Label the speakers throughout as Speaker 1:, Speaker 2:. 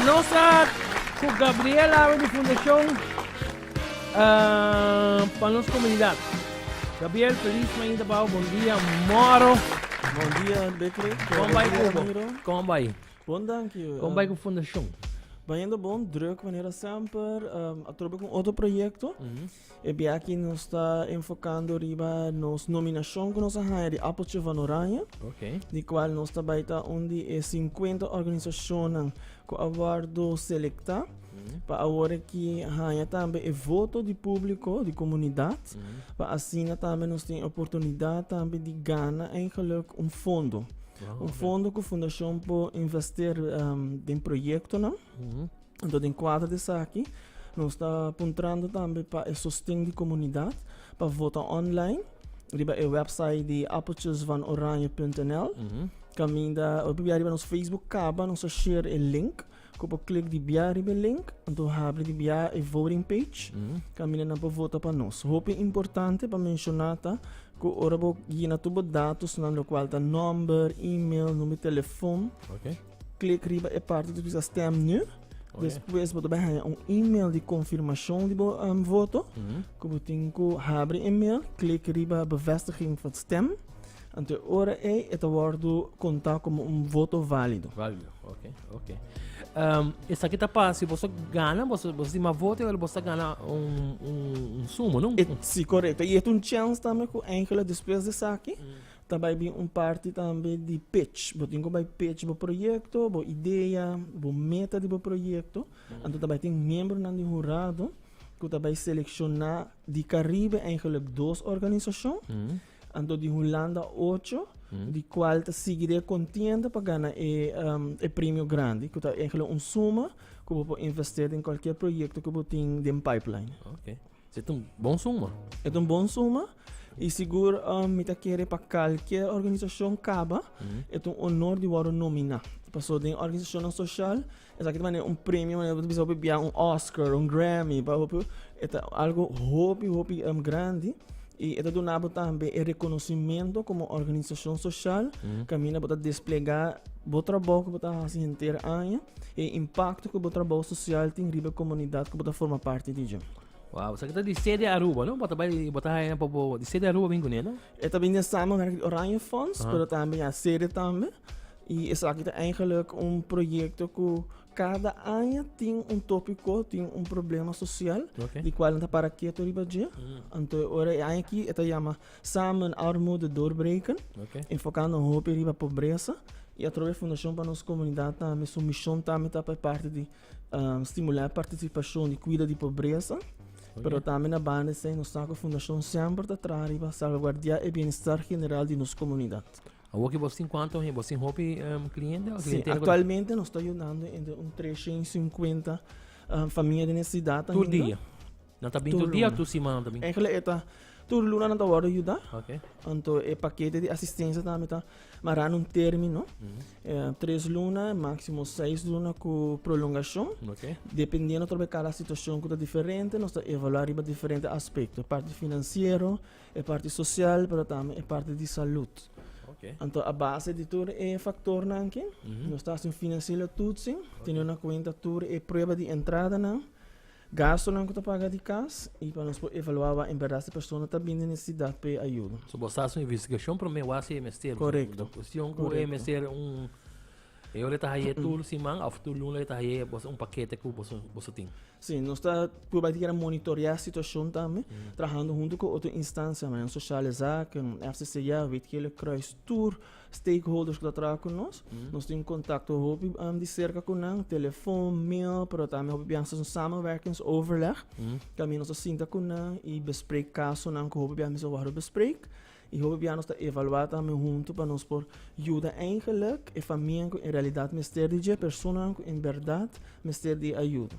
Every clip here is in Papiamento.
Speaker 1: Nos a cu Gabriel awe di fundacion pa nos comunidad. Gabriel, feliz mainta pa bo. Bon dia, moro. Bon dia
Speaker 2: Becky. Con bai cubo?
Speaker 1: Con bai? Bon danki.
Speaker 2: Con bai cu fundacion?
Speaker 1: Baiendo bon,
Speaker 2: druk manera semper. Atrobe con otro proyecto. E bia aki nos ta enfokando riba nos nominashon ku nos a haña di Apeltje van Oranje, di kual
Speaker 1: nos ta bai
Speaker 2: ta un di e sinkuenta organisashonnan ku a wòrdu selektá pa awor aki haña tambe e voto di públiko di komunidat pa asina tambe nos tin e oportunidat tambe di gana eingeluk un fondo. Un fondo ku Fundashon por investera den proyektonan. Anto den kuadro di esaki nos ta puntrando tambe pa e sosten di komunidat pa vota online riba e website di appeltjesvanoranje.nl. Kaminda oi por bia riba nos Facebook kaba nos a share e link ku por klik di bia riba e link anto habri di bia e voting page kaminda nan por vota pa nos. Hopi importante pa menshoná ta ku ora bo yina tur bo datosnan lokual ta nòmber, email, numero di telefòn.
Speaker 1: Klik riba e
Speaker 2: parti tur bisa stem nu. Despues bo ta bai haña un email di confirmashon di bo um, voto. Ku bo tin ku habri e mail, klik riba bevestiging van stem. Ante ora ei, e ta wordu konta komo un voto válido. Válido, ok,
Speaker 1: ok. Um, esaki ta pa, si boso gana, boso, boso ma voto, wel boso gana un, un, un sumo, no? E, si, correcto. Y es
Speaker 2: un chance también ku eigenlijk despues de saki, mm. Ta bai bin un parti tambe di pitch. Bo tin ku bai pitch bo proyekto, bo idea, bo meta di bo proyekto. Anto ta bai tin miembronan di hurado ku ta bai selekshona di Karibe eigenlik dos organisashon. Anto di Hulanda ocho, di kual ta sigui di e kontienda pa gana e e premio grandi ku ta eigenlik un suma ku bo por invest'é den kualkier proyekto ku bo tin den pipeline. Se ta un
Speaker 1: bon suma. E ta un bon suma.
Speaker 2: I sigur um, mi ta kere pa kalkier organisashon kaba. Mm. E ta un onor di wòrdu nominá. Paso den organisashonnan soshal, esaki ta manera un premio, manera bisa hopi bia un Oscar, un Grammy, pa hopi. E ta algo hopi, hopi um, grandi. I e ta duna bo tambe e rekonosimento komo organisashon soshal, kaminda bo ta desplegá bo trabou ku bo ta hasi henter aña. E impakto ku bo trabou sosial tin riba e komunidat ku bo ta forma parti di dje. Wow, sa ki ta di
Speaker 1: sede Aruba, no? Bo ta bai, bo ta haya na popo di sede Aruba bin kuné, no? E ta bin den samenwerking
Speaker 2: di Oranje Fonds, pero tambe ya sede tambe. I esaki ta eigenlijk un proyekto ku kada aña tin un topiko, tin un problema sosial, di kual nan ta para keto riba dje. Anto ora e aña aki e ta yama Samen armoede doorbreken, enfokando hopi riba pobresa i atrobe e Fundashon pa nos Komunidat tambe su mishon tambe ta pa e parti di stimulá e partisipashon di kuida di pobresa. Pero tambe na banda esei nos sa ku e Fundashon semper ta traha riba salvaguardiá e bienestar general di nos komunidat. Awor ki bos tin
Speaker 1: kuantu hende? Bos tin hopi kliente? Si, aktualmente
Speaker 2: nos ta yudando entre un tresha i sinkuenta famia den e sidat ainda. Tur dia?
Speaker 1: Nan ta bin tur dia tur siman también. Eigenlijk e ta tur
Speaker 2: luna nan ta worde yuda. Okay. Anto
Speaker 1: e pakete
Speaker 2: di asistensia tambe ta mara nun termino. Mm -hmm. eh, tres luna, máximo seis luna ku prolongashon. Okay. Dependiendo trobe cada situacion ku ta diferente, nos ta evaluar riba diferente aspekto. E parte finansiero, e parte sosial, pero tambe e parte di salud. Okay. Anto a base di tur e faktor nan ke, mm -hmm. nos ta hasin finansiële toetsing, okay. teniendo na kuenta tur e prueba di entrada nan. Gastunan ku ta paga di kas i pa nos por evaluá wak en bèrdat si persona ta bini nesesidat pa e ayuda. So bo sa haci un investigacion
Speaker 1: prome wak si e mester. Korekto. Un kushon ku
Speaker 2: e mester
Speaker 1: un e ora e ta haye tur siman òf tur luna e ta haye un pakete ku boso tin. Sí, nos ta
Speaker 2: pruba di monitorea situashon tambe trahando huntu ku otro instansianan, Sociale Zaken, RCCA, Witkele Croes, tur. Stakeholders ku ta traha ku nos, nos tin kontakto hopi di serka ku nan, telefon, mail, pero tambe hopi biaha nos ta samenwerkingsoverleg, ku ami nos ta sinta ku nan i besprek kasonan ku hopi biaha mester wòrdu besprek. I hopi biaha nos ta evaluá tambe huntu pa nos por yuda eingelik e famia ku en realidat mester di dje, e personanan ku en bèrdat mester di e ayuda.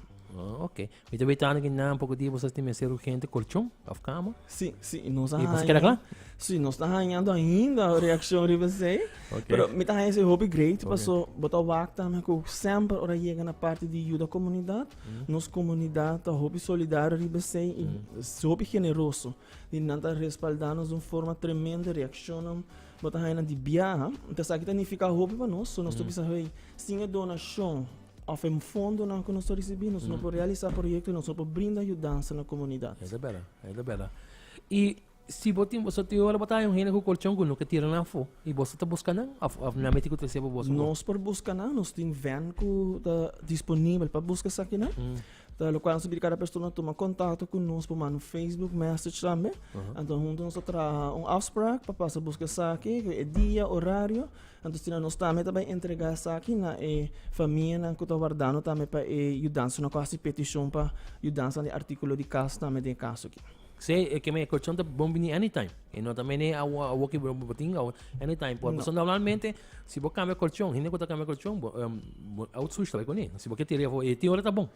Speaker 2: Oke. Mi
Speaker 1: ta bai tando ki nan poko dia bo sa tin mester urgente colchon of cama. Sí, sí, nos a Y pues
Speaker 2: queda haña. clar?
Speaker 1: Sí, nos ta hañando
Speaker 2: ainda reaccion riba esei. Ok. Pero mi ta haña esei hopi great, Ok. paso bo ta wak tambe ku semper ora yega na parti di yuda komunidat, nos komunidat ta hopi solidario riba esei i hopi generoso. I nan ta respalda nos di un forma tremendo, reaccionnan bo ta haña nan di biaha. Entonces aki ta nifiká hopi pa nos, so nos ta bisa, hey, sin e donacion Of e fondonan ku nos ta risibí nos no por realisá proyektonan, nos no por brinda yudansa na komunidat. E ta bera, e ta bera.
Speaker 1: I si bo tin, so tin ora bo ta haña un hende ku kolchon ku no ke tira nan afó i boso ta buska nan òf nan miti ku trese pa boso? Nos por buska nan,
Speaker 2: nos tin vèn ku ta disponibel pa buska esakinan. Ta lokual nos ta pidi kada persona tuma kontakto ku nos, por manda un facebook message tambe. Anto huntu nos ta traha un afsprak pa pasa buska esaki, e dia, orario. Anto asina nos tambe ta bai entregá esaki na e famianan ku ta wardando tambe pa e yudansa. Nos a hasi petishon pa yudansa di artíkulo di kas tambe den e kaso aki. Sí, e keme e kolchon
Speaker 1: ta bon bini anytime. E no ta mene awoki bo bo tin awo, anytime por. Pasobra normalmente si bo kambia kolchon, hende ku ta kambia kolchon bo bo out sushi ta bai kuné. Si bo ke tiri afó e tin ora ta bon.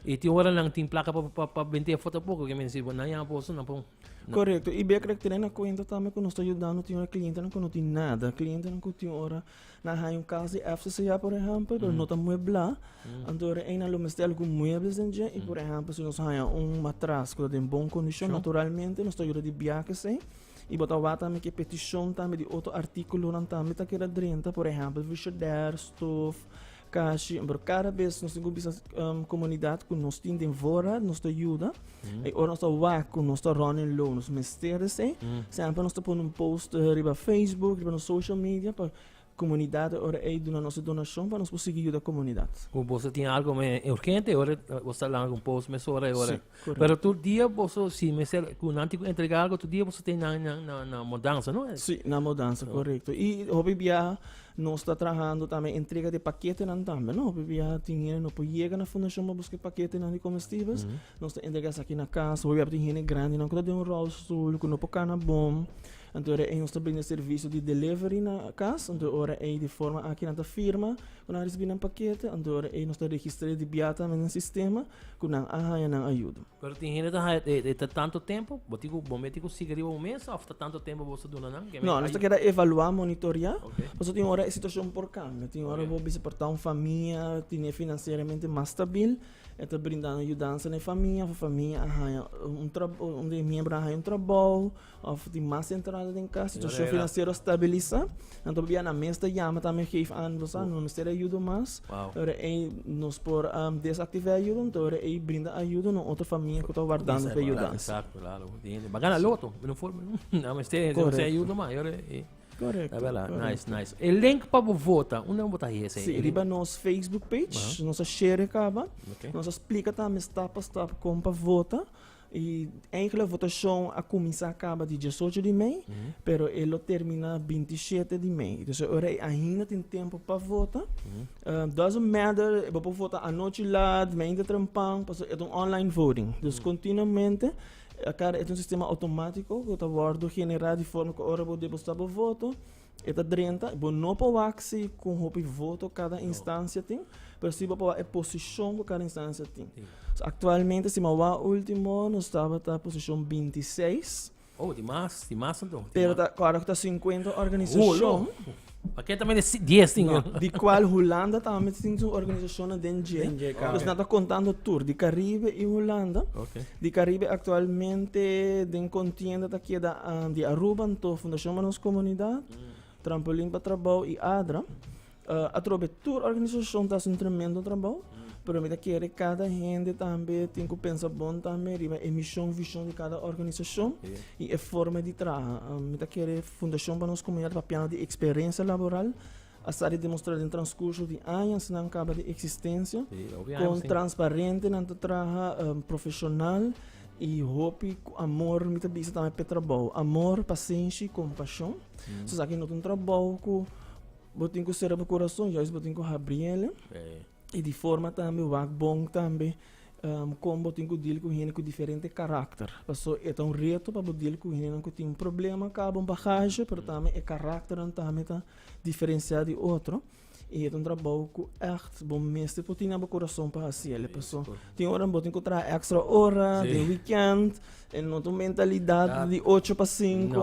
Speaker 1: E tin
Speaker 2: oranan
Speaker 1: tin plaka pa pa pa bent'é afó tampoco, ke mense bo nan yama boso nan po. Korekto, i bek lo
Speaker 2: tene na kuenta tambe ku nos ta yudando siñora klientenan ku no tin nada. Klientenan ku tin ora nan haña un kas di FCCA, por ehèmpel, pero no ta mueblá. Anto ora ei nan lo mester algun muebles den dje. I por ehèmpel si nos haña un matras ku ta den bon kondishon, naturalmente nos ta yuda di bia akesei. I bo ta wak tambe ku e petishon tambe di otro artíkulonan tambe ta keda drenta, por ehèmpel, frishider, stof, Kashi, pero kada bes nos tin ku bisa komunidat ku nos tin den wora, nos ta yuda. E ora nos ta wak ku nos ta running low, nos mester esei. Semper nos ta pone un post riba Facebook, riba nos social media pa komunidat e ora ei duna nos e donashon pa nos por sigui yuda komunidat. Ku boso tin algu
Speaker 1: me urgente e ora boso ta laga un post mesora e ora. Si. Correcto. Pero tur
Speaker 2: dia
Speaker 1: boso, si mester, cu nan tico entrega algo, tur dia boso ten na, na, na, na mudanza, no? Sí, na mudanza,
Speaker 2: correcto. Y hopi biaha nos está trabajando también entrega de paquetenan también, no? Hopi biaha tin hende no por llega na fundación pa busca paquetenan di comestibles, nos está entrega esaki na casa, hopi biaha tin hende grandenan cu ta den un rolstoel, cu no por cana boom, enton ora ei nos ta brinda e servicio di delivery na cas, enton ora ei di forma aki nan ta firma cu nan ricibi nan paquete, enton ora ei nos ta registra di biaha también den sistema. ku nan a haña nan ayudo. Pero tin hende ta haya
Speaker 1: e ta tanto tempo, bo tin ku bo mete ku siga riba un mes of ta tanto tempo bo ta duna nan? No, nos ta keda evalua,
Speaker 2: monitoria, paso tin ora e situashon por kambia, tin ora bo bisa por ta un famia tine finansieramente mas stabil, e ta brindando yudansa na e famia, of e famia a haña un trabou, un di e miembro a haña un trabou. Of tin mas entrada den cas, situacion financiero a stabilisa, anto bia na mes ta yama tambe geef aan nos a no mester e ayudo mas, ora ey nos por desactiva e ayudo, anto ora ey brinda ayudo na otro famia cu ta wardando pa yudansa.
Speaker 1: Baga na loto, no for, no mester e ayudo mas, ora ey. Correcto. Ah,
Speaker 2: verdad. Correcto.
Speaker 1: Nice, nice. E link pa bo vota, unde bo ta hese? Sí, riba nos
Speaker 2: Facebook page, uh -huh. nos a share caba, okay. nos a explica también stap pa stap como pa vota. Y eigenlijk votacion a cuminsa caba di diesocho di mei, pero e lo termina bintisiete di mei. Dus e ora ei ainda tin tempo pa vota. Ehm, doesn't matter, bo por vota anochi laat, meinte trempan, paso e ta un online voting. Dus continuamente, a cara e ta un sistema automatico cu ta wordo genera di forma cu ora bo deposita bo voto, E ta drenta, bo no por wak si con hopi voto cada instancia tin, pero si bo por wak e posicion cu cada instancia tin. So actualmente si mi a wak ultimo nos tabata posicion 26, Oh, tin mas,
Speaker 1: tin mas anto. tin pero mas. ta, ahora cu ta 50
Speaker 2: Oh, lo. organisacion, Pa keda tambe
Speaker 1: si- dies tin. no, di cual Hulanda
Speaker 2: tambe tin su organisacionnan den dje, Den dje, kaba. pues nan ta contando tur, di Caribe y Hulanda, Ok. Di Caribe actualmente den contienda ta keda di Aruba anto Fundacion Manos Comunidad, Trampolin pa Trabao y ADRA. Atrobe tur organisacion ta haci un tremendo trabao pero mi ta kere cada hende tambe tin cu pensa bon tambe riba e mision vision di cada organisacion y e forma di traha. Mi ta kere Fundacion Manos Comunidad papia di experiencia laboral. a sa di demostrá den transkurso di añasnan kaba di eksistensia kon transparente nan ta traha, profeshonal i hopi ku amor. Mi ta bisa tambe pa e trabou, amor, pasenshi i kompashon. So esaki no ta un trabou ku bo tin ku sera bo kurason, yais bo tin ku habri el. I di forma tambe wak bon tambe kon bo tin ku dil ku hende ku diferente karakter. Paso e ta un reto pa bo dil ku hendenan ku tin un problema, kaba un bagaje, pero tambe e karakternan tambe ta. diferensiá di otro i e ta un trabou ku ègt bo mester por tene na bo kurason pa hasi el. E pasó tin ora bo tin ku traha èkstra ora den wikènt, e no ta un mentalidat di ocho pa sinku.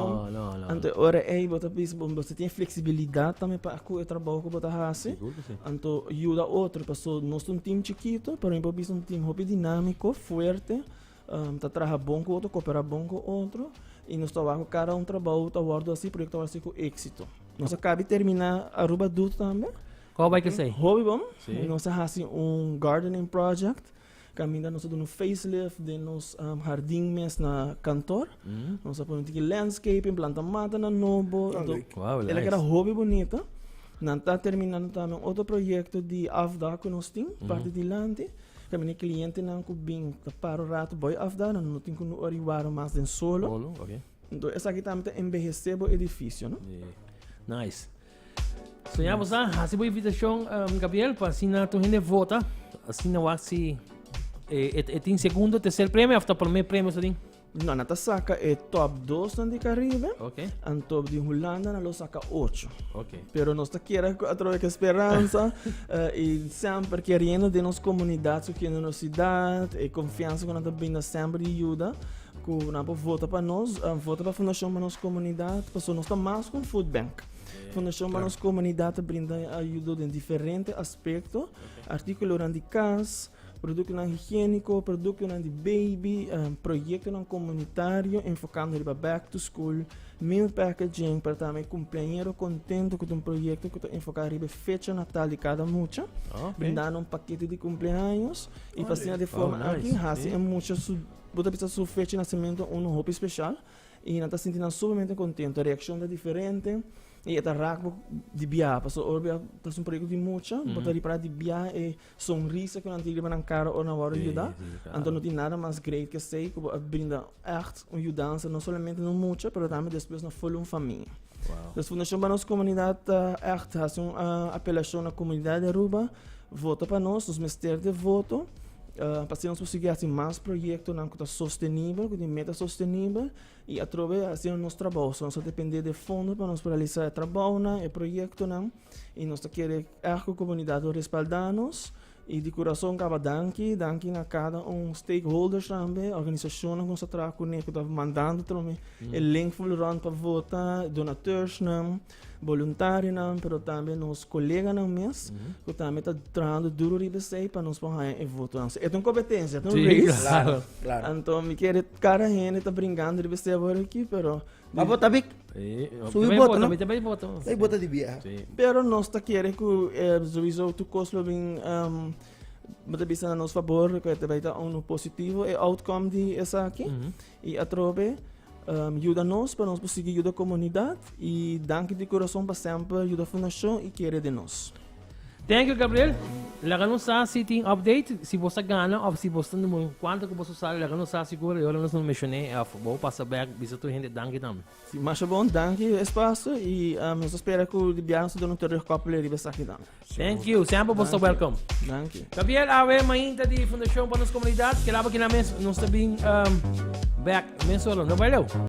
Speaker 2: Anto e
Speaker 1: ora ei
Speaker 2: bo ta bisa bo mester tin fleksibilidat tambe pa ku e trabou ku bo ta hasi. Anto yuda otro, paso nos ta un tim chikitu, pero mi por bisa un tim hopi dinámiko, fuerte. Ta traha bon ku otro, kopera bon ku otro i nos ta wak ku kada un trabou ta wòrdu hasi, proyekto ta wòrdu hasi ku éksito. Nos a kabi terminá Aruba Doot tambe. Kòb bai
Speaker 1: kesei? Hopi bon. Sí. Nos
Speaker 2: a hasi
Speaker 1: un
Speaker 2: gardening project, kaminda nos a duna un facelift den nos um, hardin mes na kantor. Nos a pone un tiki landscaping, planta matanan nobo. Ah, Do- leuk. Wauw, Elak nice. era
Speaker 1: hopi
Speaker 2: bunito. Nan ta terminando tambe un otro proyekto di afdak ku nos tin, parti dilanti. Kami na e klientenan ku bin ta para un ratu bo e afda, nan no tin ku no oriwaro mas den solo. Bolo, ok. Enton
Speaker 1: esaki tambe ta
Speaker 2: enbehesé bo edifisio, no? Yeah. Nice.
Speaker 1: So ya bosa, hasi bo invitashon, um, Gabriel, pa asina tur hende vota. Asina wak si e, e, e tin segundo, tercer premio, afta primer premio sa tin. No, nan ta saca
Speaker 2: e top dosnan di Caribe. Ok. Anto di
Speaker 1: Hulanda
Speaker 2: nan lo saca ocho. Ok. Pero nos ta
Speaker 1: kere
Speaker 2: cu atrobe que esperanza eh, y sempre queriendo de nos comunidad, su generosidad, e confianza cu nan ta brinda sempre di ayuda. Cu nan por vota pa nos, eh, vota pa Fundacion pa nos comunidad, paso nos ta mas cu un food bank. Fundacion pa nos comunidad ta brinda ayuda den diferente aspecto, articulonan di cas, Produktonan higiéniko, produktonan di baby, proyektonan komunitario enfokando riba back to school, meal packaging pa ta mi kumpliañero kontento ku ta un proyekto ku ta enfoká riba e fecha natal di kada mucha, brindando un pakete di kumpliaños i pa asina de forma aki hasi e mucha su bo ta bisa su fecha di nasementu unu hopi speshal i nan ta sinti nan suplemente kontento. E reakshon ta diferente i e ta rak bo di biaha pasobra ora bo ya ta haci un proyekto di mucha bo ta ripará di biaha e. Sonrisa cu nan tin riba nan cara ora nan worde yuda. Anto no tin nada mas great cu esey cu bo a brinda echt un yudansa no solamente na un mucha pero tambe despues na full un famia. Wow. Fundacion pa nos comunidad ta echt haci un uh, apelacion na comunidad di Aruba vota pa nos, nos mester de voto. Uh, pa nos por sigui haci mas proyectonan cu ta sostenibel, cu tin meta sostenibel y atrobe haciendo nos trabajo. So nos a depende de fondo pa nos por realiza e trabajonan, e proyectonan. I nos ta kere èg ku komunidat lo respaldá nos. I di kurason kaba danki. Danki na kada un stakeholders tambe, organisashonnan ku nos ta traha kuné ku ta mandando tromi e link ful rònt pa vota, donateursnan, boluntarionan, pero tambe nos koleganan mes ku tambe ta trahando duru riba esei pa nos por haña e votonan. So e ta un kompetensia, e ta un race. Anto mi
Speaker 3: kere kada
Speaker 2: hende ta bringando riba esei awor aki, pero Ma bo ta bik.
Speaker 3: Su i boto,
Speaker 1: no? Também
Speaker 3: boto. Sai boto di
Speaker 1: bia.
Speaker 3: Pero nos ta
Speaker 2: kere ku eh, sowieso tu kos lo bin um, mata bisa na nos favor, ku te baita uno positivo e outcome di esaki. Mm -hmm. I atrobe um, yuda nos pa nos posigi yuda komunidat i danki di kurason pa semper yuda fundashon i kere di nos. Thank you
Speaker 1: Gabriel. Laga nos sa si tin update, si bo sa gana of si bo sa numero cuanto que bo sa usar, laga nos sa sigur e ora nos no mencioné of bo pasa back bisa tur hende danki tambe. Si masha bon, danki
Speaker 2: e espacio y nos ta spera cu di biaha nos ta duna un terugkoppeling riba esaki tambe. Thank you, semper bo
Speaker 1: sa Danki. welcome. Danki. Gabriel
Speaker 2: Awe,
Speaker 1: mainta di Fundacion pa nos Comunidad, kela bo kila mes nos ta bin back mesora, no bai leu.